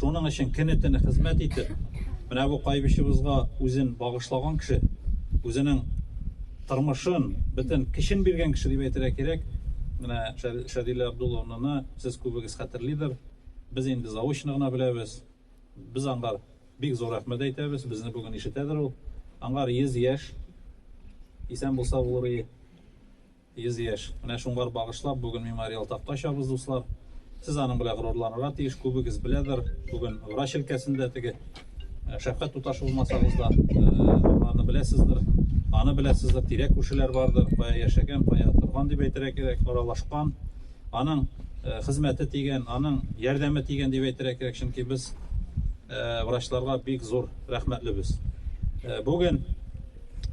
Шуның өчен көне-төне хезмәт итеп, менә бу кайбычыбызга үзен багышлаган кеше, үзенең тормышын, бөтен кешен биргән кеше дип әйтергә кирәк. Менә Шәдилә Абдулловнаны сез күбегез хәтерлидер. Без инде заочно гына беләбез. Без аңгар бик зур рәхмәт әйтәбез. Безне бүген ишетәдер ул. Аңгар 100 яшь. Исән булса булыр ие. 100 яшь! Менә шуңар багышлап бүген мемориал такта ачабыз, дуслар. Сез аның белән горурланырга тиеш, күбегез беләдер, бүген врач өлкәсендә теге Шәфкать туташ булмасагыз да, аны беләсездер, аны беләсездер, тирәк күршеләр бардыр, кая яшәгән, кая торган дип әйтергә кирәк, аралашкан, аның хезмәте тигән, аның ярдәме тигән дип әйтергә кирәк, чөнки без врачларга бик зур рәхмәтлебез. Бүген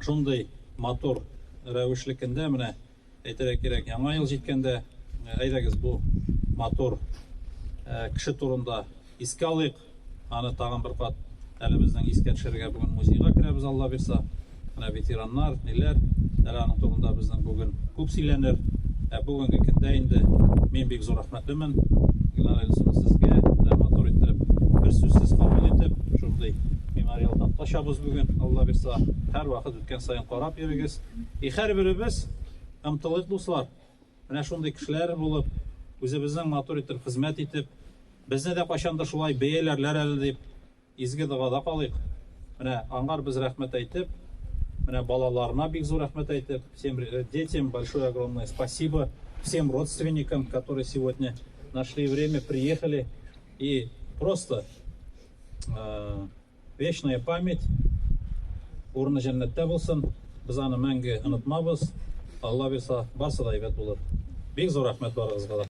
шундый Матур рәвешлекендә менә әйтергә кирәк, яңа ел җиткәндә әйдәгез бу матур кеше турында искә алыйк. Аны тагын бер кат әле безнең искә төшерергә бүген музейга керәбез, Алла бирса. Менә ветераннар, ниләр, әле аның турында безнең бүген күп сөйләнер. Ә бүгенге көндә инде мин бик зур Рәхмәтлемен, Илнар Эльсов, сезгә дә матур иттереп, бер сүзсез кабул итеп, шундый мемориал такта чабыз бүген, Алла бирса, һәр вакыт үткән саен карап йөрегез. И һәрберебез ымтылыйк, дуслар, менә шундый кешеләр булып, үзебезнең матур итеп хезмәт итеп, безне дә кайчандыр шулай бәяләрләр әле дип, Изге догада калыйк. Менә аңар без рәхмәт әйтеп, менә балаларына бик зур рәхмәт әйтеп, всем детям большое огромное спасибо, всем родственникам, которые сегодня нашли время, приехали и просто вечная память, урыны җәннәттә булсын, без аны мәңге онытмабыз, Алла бирса, барсы да әйбәт булыр. Бик зур рәхмәт барыгызга да.